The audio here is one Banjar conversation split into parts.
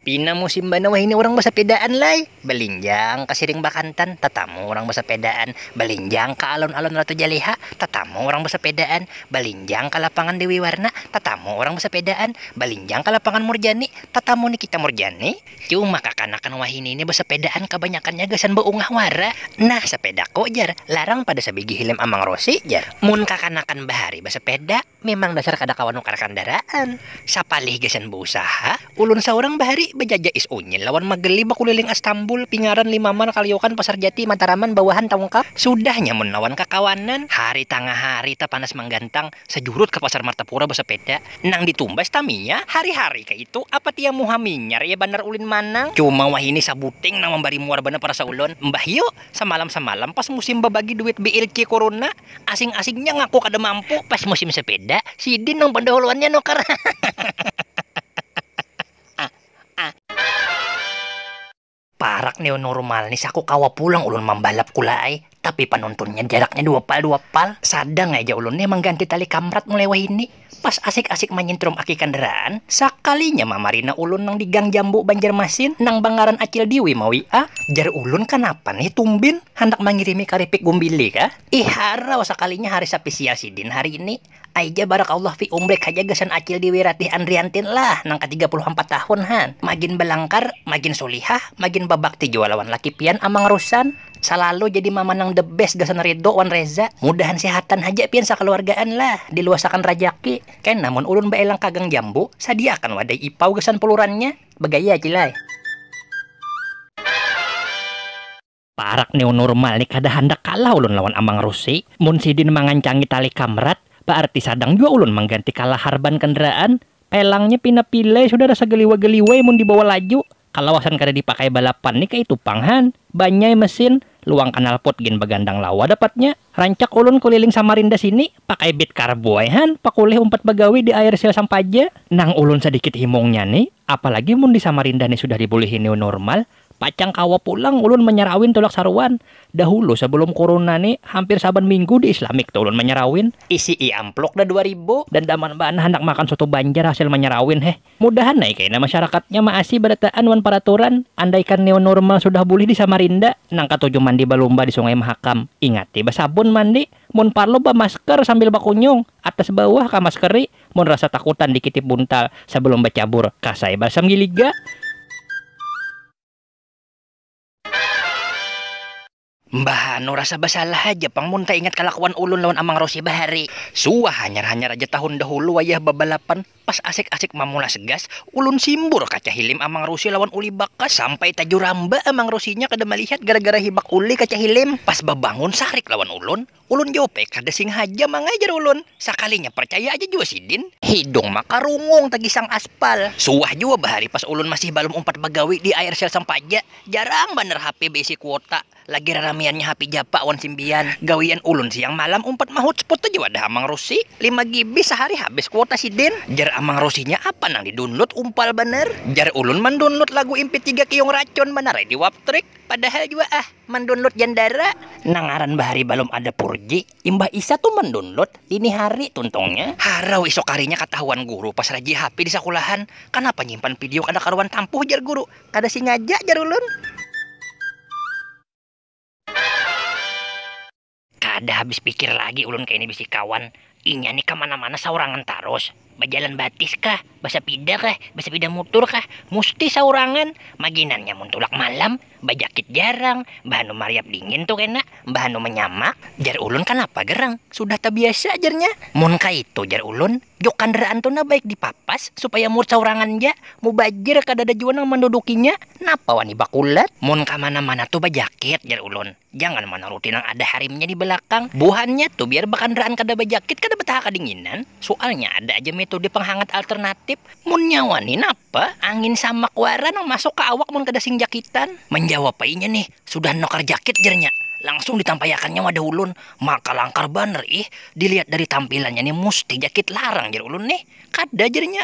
Pina musim banar wahini urang basapedaan lai, balinjang ka siring bakantan, tatamu urang basapedaan, balinjang ka alun-alun Ratu Jaleha, tatamu urang basapedaan, balinjang ka lapangan Dewi Warna, tatamu urang basapedaan, balinjang ka lapangan Murjani, tatamu Nikita Murjani. Cuma kakanakan wahini ni basapedaan kabanyakannya gasan baungah wara. Nah sapedaku jar, larang pada sabigi hilim Amang Rosi jar mun kakanakan bahari basapeda. Memang dasar kada kawa nukar kandaraan, sapalih gasan bausaha, ulun saurang bahari bajajak is unyil lawan mageli bakuliling Astambul, Pingaran, Limaman, Kaliokan, Pasar Jati, Mataraman, bawahan Taungkap, sudahnya mun lawan kakawanan, hari tangah hari tapanas manggantang, sajurut ka Pasar Martapura basapeda, nang ditumbas taminya, hari-hari kaitu apa tiang muha minyar ya banar ulin manang, cuma wahini sabuting nang mambari muar banar parasa ulun, mbah yu, samalam-samalam pas musim babagi duit BLC kuruna, Asing-asingnya ngaku kada mampu pas musim sepeda, sidin nang pandahuluannya nukar. Parak ni nurumal ni saku kawa pulang ulun mambalap kula ai, tapi panuntunnya jaraknya dua pal dua pal, sadang ai ja ulun nih mangganti tali kamrat mulai wahini. Pas asik-asik manyintrum aki kandaraan, sakalinya mamarina ulun nang di Gang Jambu Banjarmasin nang bangaran Acil Diwi ma WA. Jar ulun kanapa nih tumbin, handak mangirimi karipik gumbili kah? Ih harau sakalinya hari sapisial sidin hari ini. Aija barakallah fi umrik haja gasan Acil Diwi Ratih Andriantin lah nang ka tiga puluh ampat tahun han. Magin balangkar, magin sulihah, magin babakti jua lawan laki pian Amang Russan. Salalu jadi mama nang the best gasan Ridho wan Reza. Mudahan sehatan haja pian sakaluargaan lah, diluasakan rajaki. Kena mun ulun baelang ka Gang Jambu, sadiaakan wadai ipau gasan pulurannya. Bagaya Cil ai. Parak new normal ni kada handak kalah ulun lawan Amang Rusi. Mun sidin mangancangi tali kamrat, baarti sadang jua ulun mangganti kalahar ban kendaraan. Pelangnya pina pilai sudara sagaliwa-galiwai mun dibawa laju. Kalawasan kada dipakai balapan ni kaitu pang han, banyai mesin, luang kanalpot gin bagandang lawa dapatnya, rancak ulun kuliling Samarinda sini pakai bit karbu ai han pakulih umpat bagawi di air sio sampaja, nang ulun sadikit himungnya ni apalagi mun di Samarinda ni sudah dibulihi new normal pacang kawa pulang ulun manyarawin tulak saruan, dahulu sebelum kuruna ni hampir saban minggu di Islamic tu ulun manyarawin. Isi'i ampluk dah dua ribu. Dandaman banar handak makan soto banjar hasil manyarawin heh. Mudahan ai kaina masyarakatnya maasi barataan wan paraturan, andaikan new nurmal sudah bulih di Samarinda, nang katuju mandi balumba di sungai mahakam, ingati basabun mandi, mun parlu bamasker sambil bakunyung, atas bawah kamaskeri, mun rasa takutan dikitip buntal, sabalum bacabur kas ai balsam giliga. Mbah anu rasa basalah haja pang mun taingat kalakuan ulun lawan Amang Rosie bahari. Suah hanyar-hanyar aja tahun dahulu wayah babalapan, pas asik-asik mamulas gas, ulun simbur kaca hilim Amang Rosie lawan Uli Bakas sampai tajuramba Amang Rosie-nya kada malihat gara-gara hibak Uli kaca hilim. Pas babangun sarik lawan ulun, Ulun jua pe kada singhaja mangai jar ulun, sakalinya parcaya aja jua sidin. Hidung makarungung tagisang aspal. Suah jua bahari pas ulun masih balum umpat bagawi di Aircell sampaja, jarang banar hape baisi kuota, lagi raramiannya hape japa wan simbian. Gawian ulun siang malam umpat mahutsput aja wadah Amang Rusi, lima GB sahari habis kuota sidin. Jar Amang Rusinya apa nang di download umpal banar. Jar ulun mandownload lagu MP tiga kiyung racun banar ai di waptrik. Padahal jua ah mandownload jandara. Nang ngaran bahari balum ada purji, imbah isya tu mandownload, dini hari tuntungnya. Harau isuk harinya katahuan guru pas rajih hape di sakulahan, kanapa nyimpan pidio kada karuan tampuh jar guru, kada singaja jar ulun. Kada habis pikir lagi ulun kaini bisi kawan, inya ni kamana-mana saurangan tarus, bajalan batis kah, basapida kah, basapida mutur kah, musti saurangan, maginannya mun tulak malam, bajakit jarang, mbahanu mariap dingin tu kena, mbahanu manyamak, jar ulun kanapa gerang, sudah tabiasa jarnya, mun kaitu jar ulun, juk kandaraan tu nah baik dipapas supaya mur saurangan ja, mubajar kadada jua nang mandudukinya, napa wani bakulat, mun kamana-mana tu bajakit jar ulun. Jangan manuruti nang ada harimnya di balakang. Buhannya tu biar bakandaraan kada bajakit kada bataha kadinginan. Sualnya ada aja metode panghangat alternatip. Munnya wani napa? Angin samak wara nang masuk ka awak mun kada sing jakitan. Manjawab ai inya nih, sudah nukar jakit jarnya. Langsung ditampaiakannya wadah ulun. Maka langkar banar ih. Dilihat dari tampilannya nih musti jakit larang jar ulun nih. Kada jarnya.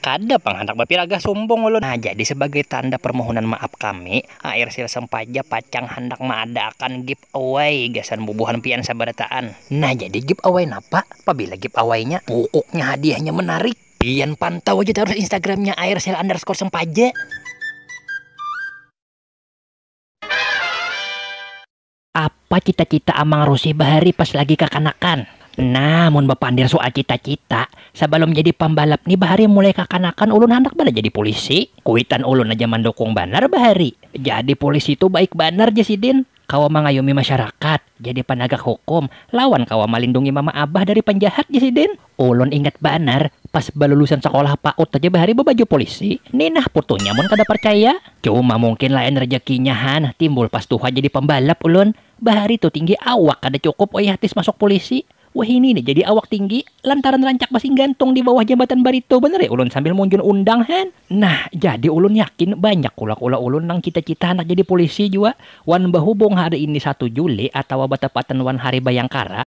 Kada pang handak bapiragah sumbung ulun. Nah, jadi sabagai tanda parmohonan maaf kami, air sil sempaja pacang handak maadaakan give away gasan bubuhan pian sabarataan. Nah, jadi give away napa? Pabila give awaynya, pukuknya hadiahnya menarik. Pian pantau aja tarus instagramnya air sil underscore sempaja. Apa cita-cita Amang Rusih bahari pas lagi kakanakan? Nah, mun bapandir sual cita-cita, sabalum jadi pambalap ni bahari mulai kakanakan ulun handak banar jadi pulisi. Kuitan ulun aja mandukung banar bahari. Jadi pulisi tu baik banar jar sidin, kawa mangayumi masyarakat, jadi panagak hukum, lawan kawa malindungi mama abah dari panjahat jar sidin. Ulun ingat banar, pas balulusan sakolah paut haja bahari babaju polisi. Ni nah putunya mun kada parcaya. Cuma mungkin lain rejekinya han, timbul pas tuha jadi pambalap ulun. Bahari tu tinggi awak kada cukup wayah tes masuk polisi. Wahini ni jadi awak tinggi, lantaran rancak basing gantung di bawah jambatan Barito banar ya ulun sambil munjun undang han. Nah, jadi ulun yakin banyak kula-kula ulun nang cita-cita handak jadi polisi jua. Wan bahubung hari ini satu Juli atawa batapatan wan Hari Bayangkara,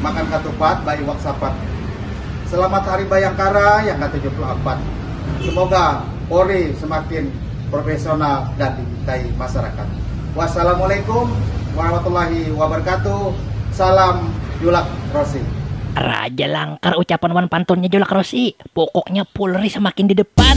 makan katupat ba iwak sapat selamat hari bayangkara yang ke 74 semoga Polri semakin profesional dan dicintai masyarakat wassalamualaikum warahmatullahi wabarakatuh salam julak rosi Raja Langkar ucapan wan pantunnya Julak Rosi. Pokoknya Pulri semakin di depan.